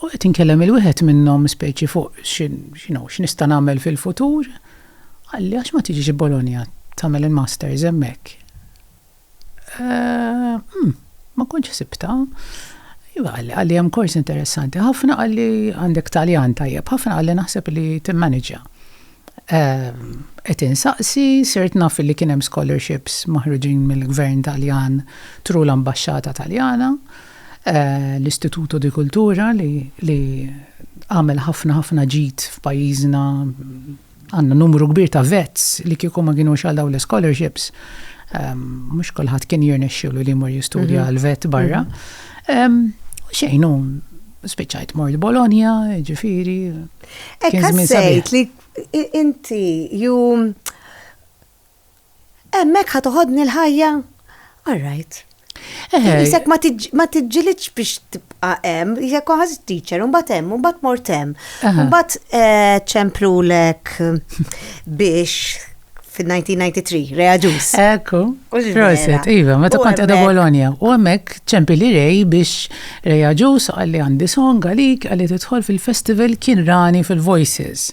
U qed inkellem il-wieħed minnhom speċi fuq x'nista' nagħmel fil-futur. Qalli, għax ma tiġix Bologna tagħmel il-masters hemmhekk? Umm, ma kontx ħsibtha. Iva, qalli, qalli hemm kors interessanti ħafna, qalli għandek Taljan tajjeb ħafna, qalli naħseb li timmaniġġja. Qed insaqsi, sirt naf li kien hemm scholarships maħruġin mill-Gvern Taljan through l-Ambaxxata Taljana. L-Istituto di Cultura li għamel ħafna ħafna ġid f'pajjiżna, għandna numru kbir ta' vets li kieku ma kinux għal dawn l-ischolarships mhux kulħadd kien jirnexxielu li jmur jistudja għal vet barra. Xejn hu spiċċajt mort Bologna, jiġifieri. Hekk ħassejt li inti ju Hemmhekk ħa toħodni l-ħajja? All right. Isek ma tiġġilitx biex tibqa' hemm, isek ħaż teacher, mbagħad hemm, mbagħad mort hemm. Mbagħad eh, ċemplulek biex fil-1993, Rea Ġus. Ekku, proset, iva, meta kont edha Bologna. U għamek ċempi li rej biex Rea Ġus għalli għandi song għalik għalli tidħol fil-festival kien rani fil-Voices.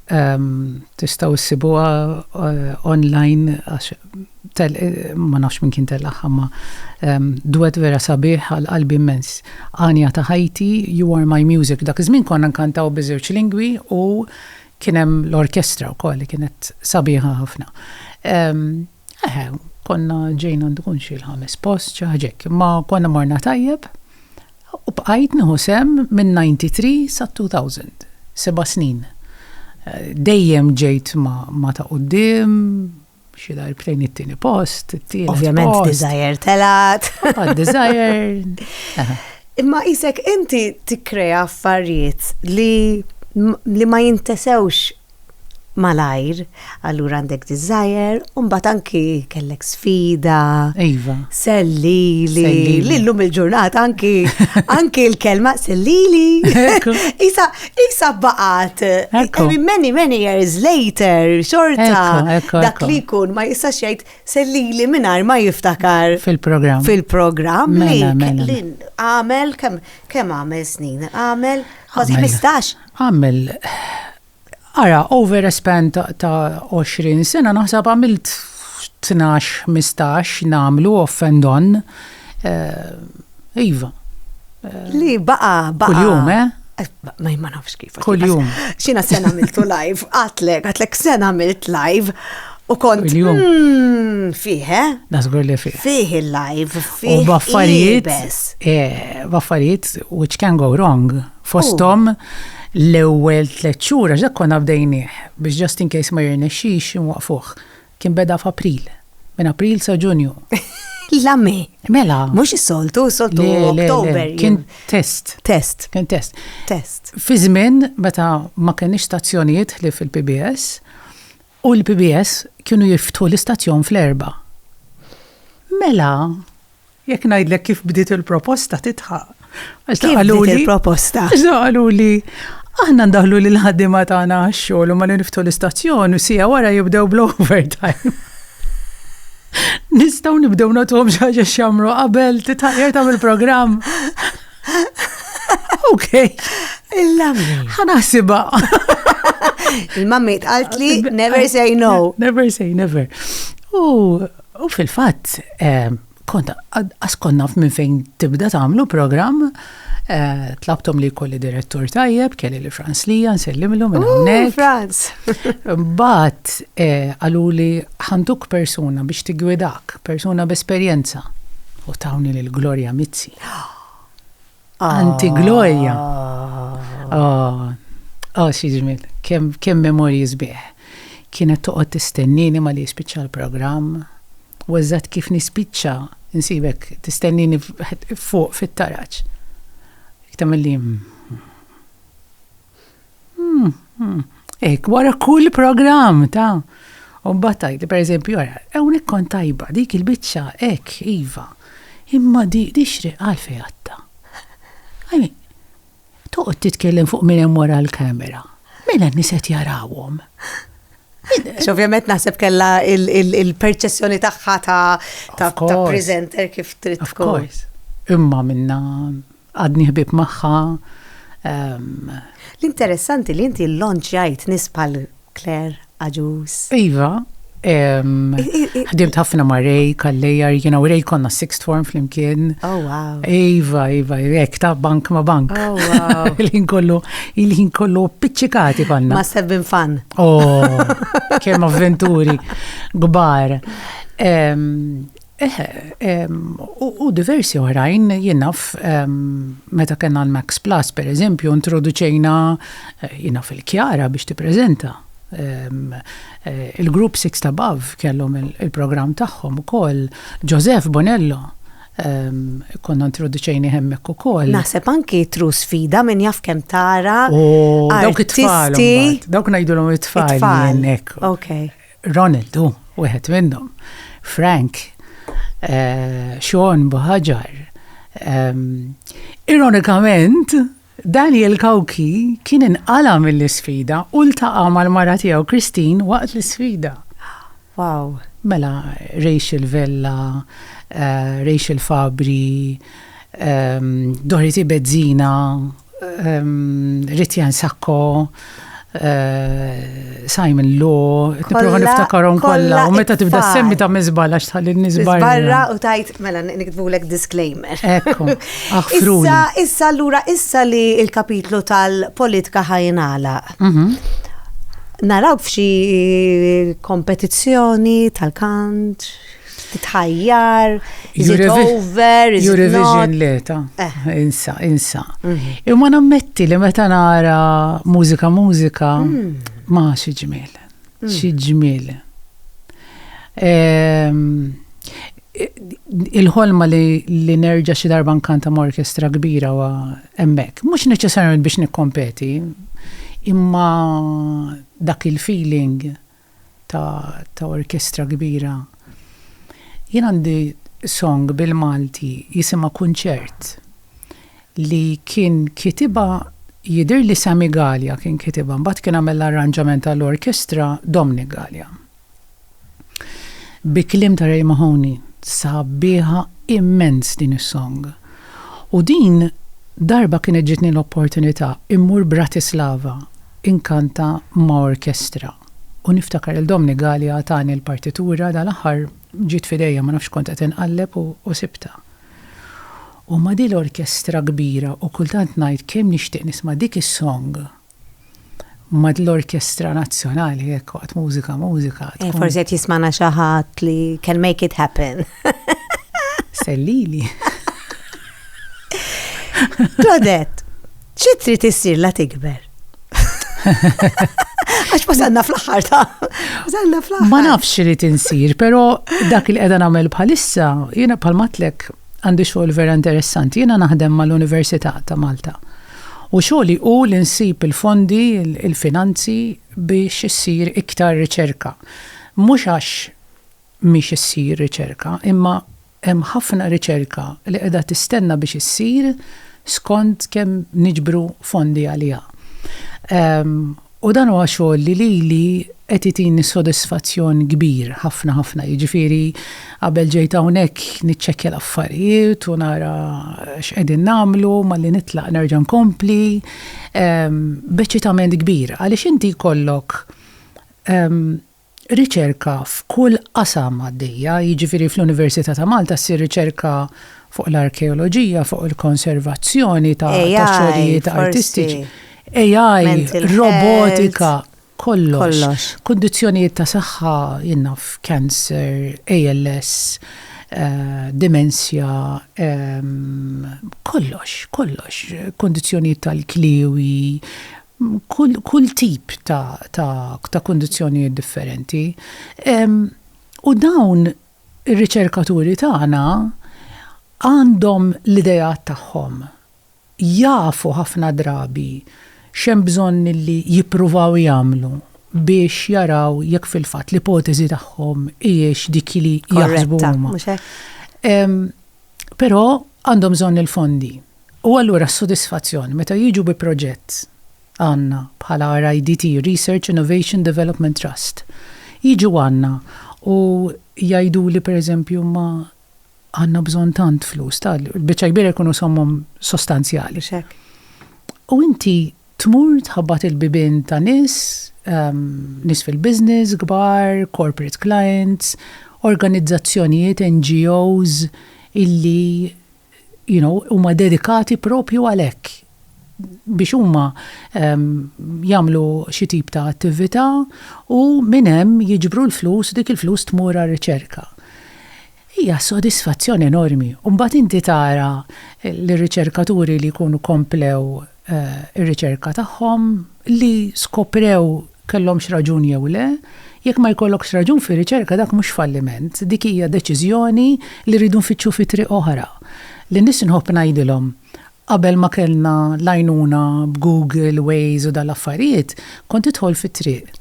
Tistgħu ssibuha online għax ma nafx minn kien tellaqha ma duet vera sabiħ għal qalbi immens. Għanja ta' ħajti, you are my music. Dak iż-żmien konna nkantaw biż-żewġ lingwi u kien hemm l-orkestra wkoll li kienet sabiħa ħafna. Eħe, konna ġejna għandu kun xi l-ħames post, xi ħaġa hekk, imma konna morna tajjeb u bqajt nieħu sehem minn 93 sat-2000, seba' snin. Dejjem ġejt ma' ta' quddiem, xi darbtejn it-tieni post, it-tielet. Ovvjament Desire telgħet. Għad Desire. Imma qisek inti tikkrea affarijiet li ma jintesewx malajr, allura għandek desire, u mbagħad anki kellek sfida. Iva. Sellili. Li llum il-ġurnata anki anki l-kelma sellili. Isa isa baqat. Many many years later xorta dak li jkun ma jistax jgħid sellili mingħajr ma jiftakar fil-programm. Fil-programm mela, mela, mela. li għamel kemm għamel snin? Għamel 15 Għamel, ara, over a span ta' għoxrin sena naħseb għamilt tnax, ħmistax nagħmlu off and on. Eh, iva. Li baqa, baqa. Kuljum, eh? eh ma jimma nafx kif. Kuljum. Xina sena għamiltu live, għatlek, għatlek sena għamilt live. U kont. Kuljum. Hmm, fiħe? Eh? Nasgur li fiħe. Fiħe live, fiħe. U baffarijiet. Eh, baffarijiet, which can go wrong. Fosthom l-ewwel tliet xhur għax dak konna bdejnieh biex just in case ma jirnexxix inwaqfuh. Kien beda f'April. Minn April sa Ġunju. La me. Mela. Mhux is-soltu, is-soltu Oktober. Kien test. Test. Kien test. Test. Fi żmien meta ma kenniex stazzjonijiet li fil-PBS, U l-PBS kienu jiftħu l-istazzjon fl-erbgħa. Mela. Jekk ngħidlek kif bdiet il-proposta tidħaq. Għax Kif qaluli- bdiet il-proposta? Għax dawn qalu li aħna ndaħlu lil ħaddiema tagħna għax-xogħol u ma li niftħu l-istazzjon u sija wara jibdew bl-overtime. Nistgħu nibdew nagħtuhom xi ħaġa x'jagħmlu qabel titħajjar tagħmel programm. Ok. Il-lammi. Ħanasiba. Il-mammi tqalt li never say no. Never say never. U fil-fatt, eh, kont askonna minn fejn tibda tagħmlu programm eh, tlabtom li kolli direttur tajjeb, kelli li Franz Lija, nsellimlu minn hawnhekk. Franz. Bat eh, għalu li ħanduk persuna biex tigwidak, persuna b'esperjenza. U tawni l-Gloria Mizzi. Anti Gloria. Oh, oh xi ġmiel, kemm memorji sbieħ. Kienet toqgħod tistennini ma li jispiċċa l-programm. U eżatt kif nispiċċa nsibek tistennini fuq fit-taraġ. Tagħmel li Hmm, hmm. Ek, wara kull program ta' u battajt, per eżempju, għara, ewn ikkon tajba, dik il-bicċa, ek, iva, imma di, di xri għalfej għatta. Għajmi, toqt titkellem fuq minn hemm wara l-kamera. Mela niset jarawhom. Ovvjament naħseb kella il-perċessjoni tagħha ta' presenter kif trid tkun. Imma minna Għadni ħbib magħha. L-interessanti li inti l-lonċjajt nis bħal Claire Aġus. Iva, ħdimt ħafna ma' Ray, Kallejar, jina u Ray konna sixth form flimkien. Oh, wow. Iva, Iva, jek ta' bank ma' bank. Oh, wow. Il-ħin kollu, il-ħin kollu piċċikati konna. Must have been fun. Oh, kem avventuri, gbar. Eħe, u diversi oħrajn jien naf meta kellna l-Max Plus pereżempju introduċejna jien naf il-Kjara biex tippreżenta. Il-Group Sixth Above kellhom il-programm tagħhom ukoll, Joseph Bonello konna introduċejnih hemmhekk ukoll. Naħseb anki True Sfida min jaf kemm tara. Dawk it-tfal. Dawk ngħidulhom it-tfal. It-tfal. Hekk. Okay. Ronald hu wieħed minnhom. Frank, Sean Buħaġar. Ironikament, Daniel Cauchi kien inqala' mill-isfida u ltaqa' mal-mara tiegħu Christine waqt l-isfida. Wow! Mela, Rachel Vella, Rachel Fabri, Dorothy Bezzina. Ritjan Sakko, Eh, Simon Law, niprofa niftakarom kollha, u meta tibda semmi ta' mizbal għax tħalli nizbal. Barra u tajt, mela niktbulek disclaimer. Ekku, aħfru. Issa, issa l-ura, issa li il-kapitlu tal-politika ħajnala. Mhm. Naraw f'xi kompetizzjoni tal-kant, tħajjar, iżid over, iżid Eurovision leta, eh. insa, insa. Mhm. Imma nammetti li meta nara mużika mużika, mm. ma xi ġmiel, mm. xi ġmiel. Ehm, il-ħolma li nerġa xi darba nkanta ma' orkestra kbira wa emmek, mhux neċessarjament biex nikkompeti, imma dak il-feeling ta' ta' orkestra kbira. Jien għandi song bil-Malti jisimha Kunċert li kien kitibha jidhirli Sammy Galea kien kitibha mbagħad kien għamel l-arranġament għall-orkestra Dominic Galea. Bi kliem ta' Ray Mahoney. Sabiħa immens din is-song. U din darba kienet ġietni l-opportunità immur Bratislava inkanta ma' orkestra u niftakar il Domni Galea tani l-partitura dal-aħħar ġiet f'idejja ma nafx kont qed inqalleb u sibtha. U ma' dil-orkestra kbira u kultant ngħid kemm nixtieq nisma' dik is-song Ma dl-orkestra nazzjonali jekk waqt mużika mużika. Eh, forsi qed jismana xi ħadd li can make it happen. Sellili. Claudette, xi trid issir la tikber? Għax wasalna fl-axħar ta' wasalna fl-axħar. Ma nafx li tinsir, pero dak il qeda nagħmel bħalissa, jiena bħal matlek għandi xogħol vera interessanti. Jiena naħdem mal-Università ta' Malta. U xogħli hu li nsib il-fondi, il-finanzi biex issir iktar riċerka. Mhux għax mhix issir riċerka, imma hemm ħafna riċerka li qiegħda tistenna biex issir skont kemm niġbru fondi għaliha. U dan huwa xogħol li lili qed itini sodisfazzjon kbir ħafna ħafna. Jiġifieri qabel ġejt hawnhekk niċċekkja l-affarijiet u nara x'qegħdin nagħmlu, malli nitlaq nerġa' nkompli. B'eċċitament kbir għaliex inti jkollok riċerka f'kull qasam għaddejja, jiġifieri fl-Università ta' Malta ssir riċerka fuq l-arkeoloġija, fuq il-konservazzjoni ta' xogħlijiet artistiċi, AI, robotika, kollox, kundizzjonijiet ta' saħħa, jien naf, cancer, ALS, dimensja, kollox, kollox, kundizzjonijiet tal-kliewi. kull tip ta' kundizzjonijiet differenti. U dawn ir-riċerkaturi tagħna għandhom l-ideat tagħhom. Jafu ħafna drabi x'hemm bżonn li jippruvaw jagħmlu biex jaraw jekk fil-fatt l-ipoteżi tagħhom hijiex dik li jaħsbu huma. Korretta, mhux hekk? Però għandhom bżonn il-fondi. U allura s-sodisfazzjon meta jiġu bi proġett, għandna bħala RIDT, Research Innovation Development Trust, jiġu għandna u jgħiduli per eżempju imma għandna bżonn tant flus, ta' l-biċċa kbira jkunu sommom sostanzjali. Mhux hekk. U inti tmur tħabbat il-bibien ta' nies, nies fil-business, kbar, corporate clients, organizzazzjonijiet, NGOs illi, you know, huma dedikati propju għal hekk biex huma ehm, jagħmlu xi tip ta' attività u minn hemm jiġbru l-flus dik il-flus tmur għar-riċerka. Hija sodisfazzjon enormi. Mbagħad inti tara l-riċerkaturi li jkunu komplew ir-riċerka tagħhom li skoprew kellhomx raġun jew le, jekk ma jkollokx raġun fir-riċerka dak mhux falliment, dik hija deċiżjoni li rridu nfittxu fi triq oħra. Lin-nies inħobb ngħidilhom, qabel ma kellna l-għajnuna b'Google, Waze u dan l-affarijiet, kont tidħol fit-triq,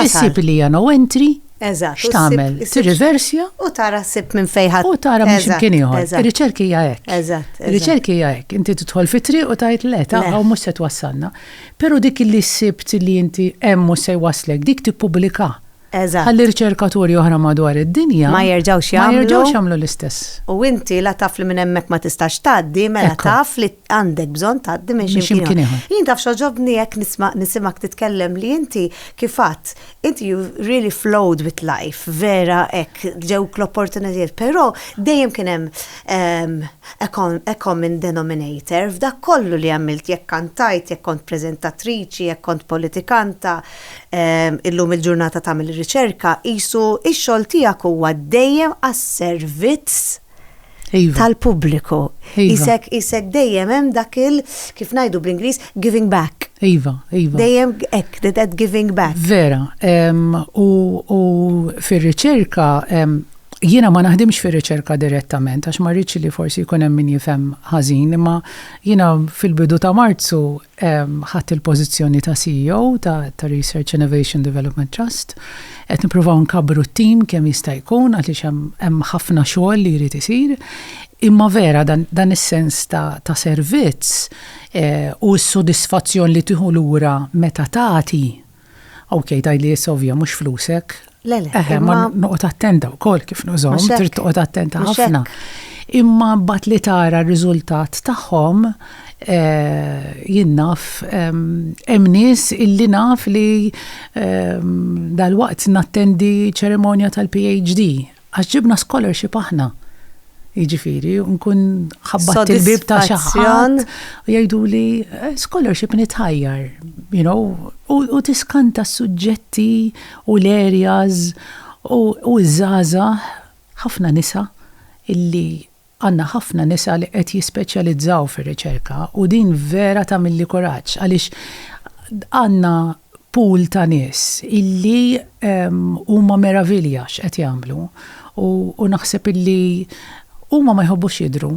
issib li hija no entry, Eżatt. X'tagħmel? Tirriversja u tara ssib minn fejn ħadd. U tara minn x'imkien ieħor. Ir-riċerki hija hekk. Eżatt. Ir-riċerki hija hekk. Inti tidħol fi triq u tgħid le ta' hawn mhux se twassalna. Però dik li ssibt li inti hemm mhux se jwasslek dik tippubblika. Eżatt. Ħalli riċerkaturi oħra madwar id-dinja ma jerġgħux jagħmlu. Ma jerġgħux jagħmlu l-istess. U inti la taf li minn hemmhekk ma tistax tgħaddi, mela taf li għandek bżon tgħaddi minn xi ximkien ieħor. Jien taf xoġobni jekk nisma' nisimak titkellem li inti kif fatt inti you really flowed with life, vera hekk ġewk l-opportunitajiet, però dejjem kien hemm ehm, a common denominator f'dak kollu li għamilt jekk kantajt, jekk kont preżentatriċi, jekk kont politikanta, ehm, illum il-ġurnata tagħmel riċerka, isu ix-xogħol tiegħek huwa dejjem għas-servizz Iva. tal-pubbliku. Iva. Isek, isek dejjem hemm dak il kif ngħidu bl-Ingliż giving back. Iva, iva. Dejjem hekk that giving back. Vera, u fir-riċerka jiena ma naħdimx fir-riċerka direttament għax ma rridx li forsi jkun hemm min jifhem ħażin, imma jiena fil-bidu ta' Marzu Ħadt il-pożizzjoni ta' CEO ta' Research Innovation Development Trust. Qed nippruvaw nkabbru t-tim kemm jista' jkun għaliex hemm ħafna xogħol li jrid isir. Imma vera dan is-sens ta' servizz u s-sodisfazzjon li tieħu lura meta tagħti, Ok, daj li jessa ovvja, mux flusek. Lele. Eħe, ma noqot attenta u kol kif nużom, trid toqot attenta ħafna. Imma bat li tara r-riżultat tagħhom eh, jinnaf hemm nies illi naf li dal-waqt nattendi ċerimonja tal-PhD Għax ġibna scholarship aħna. Jiġifieri, nkun ħabbat il-bib ta' xi ħadd u jgħiduli eh, scholarship nitħajjar, you know, u tiskanta s-suġġetti u l-areas u ż-żgħażagħ ħafna nisa illi Għandna ħafna nisa li qed jispeċjalizzaw fir-riċerka u din vera tagħmilli kuraġġ għaliex għandna pool ta' nies illi huma meravilja x'qed jagħmlu u naħseb illi huma ma jħobbux jidhru.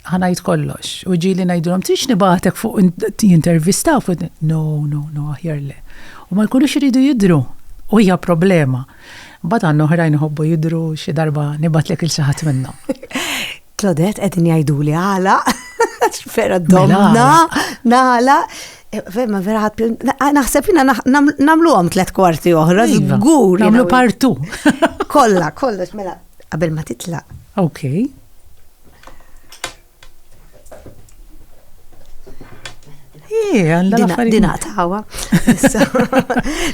Ħa ngħid kollox u ġieli ngħidilhom trix nibgħatek fuq jintervistaw fuq no, no, no aħjar le. U ma jkunux iridu jidhru u hija problema. Mbagħad għandna oħrajn iħobbu jidhru xi darba nibgħatlek il xi ħadd minnhom. Claudette qegħdin jgħiduli għala. Vera mela, domna, nala. Eh, ma vera ħat, ah, naħseb jina namlu għom tlet kwarti oħra, iva, zgur. Namlu partu. Kolla, kolla, mela, qabel ma titla. Ok. Dina tawa.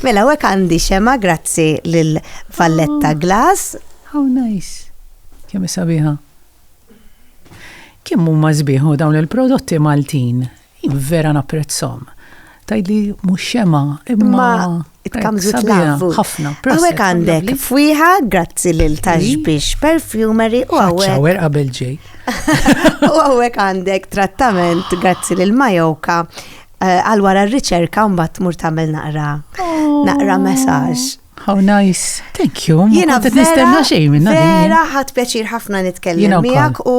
Mela, għek għandi xema, grazzi lil Valletta oh, Glass. How nice. Kemm sabiħa. Kemm huma żbieħu dawn il-prodotti Maltin Jien vera napprezzhom. Tgħidli mhux xema imma tkamżu tlavu. Ħafna. Hawnhekk għandek fwiħa grazzi lil tax biex perfumery u hawnhekk. Shower qabel ġej. U hawnhekk għandek trattament grazzi lil Majoka eh, għal wara r-riċerka mbagħad tmur tagħmel naqra oh. naqra messaġġ. How nice. Thank you. Jina qed nistenna xejn minna. Vera ħadd pjaċir ħafna nitkellem miegħek u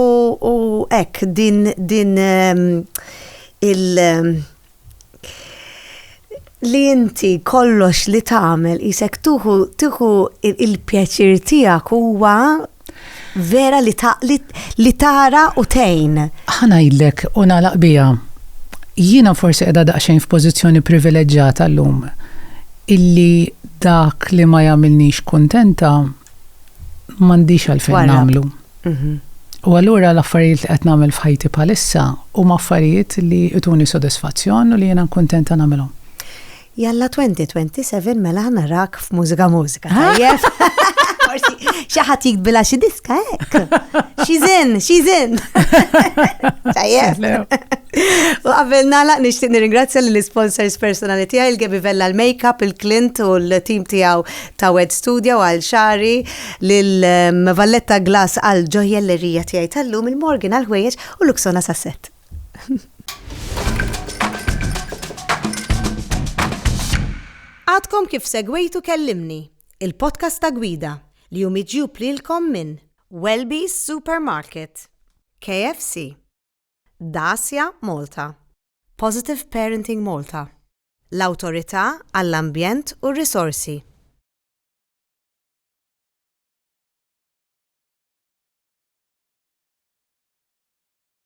hekk din din ehm, il ehm, li inti kollox li tagħmel isek tuħu tuħu il-pjaċir tiegħek huwa Vera li ta' li, li tara u tejn. Ħana jillek u nagħlaq biha. Jiena forsi qiegħda daqsxejn f'pożizzjoni privileġġata llum illi dak li ma jagħmilnix kuntenta m'għandix għalfejn nagħmlu. Mhm. U allura l-affarijiet li qed nagħmel f'ħajti bħalissa huma affarijiet li jtuni sodisfazzjon u li jiena nkuntenta nagħmilhom. Jalla 2027 mela narak f'mużika mużika. Tajjeb. Forsi xi ħadd jikbila xi diska hekk. She's in, she's in. Tajjeb. U qabel nagħlaq nixtieq nirringrazzja lill sponsors personali tiegħi il-Gebi Vella l-Makeup, il-Clint u l-tim tiegħu ta' Wed Studio għal xari lil ehm, Valletta Glass għal ġojjellerija tiegħi tal-lum il-Morgan għal ħwejjeġ u Luxona Sasset. Għadkom kif segwejtu Kellimni, il-podcast ta' gwida li hu miġjub lilkom minn Welby's Supermarket, KFC, Dacia Malta, Positive Parenting Malta, l-Awtorità għall-Ambjent u r-Risorsi.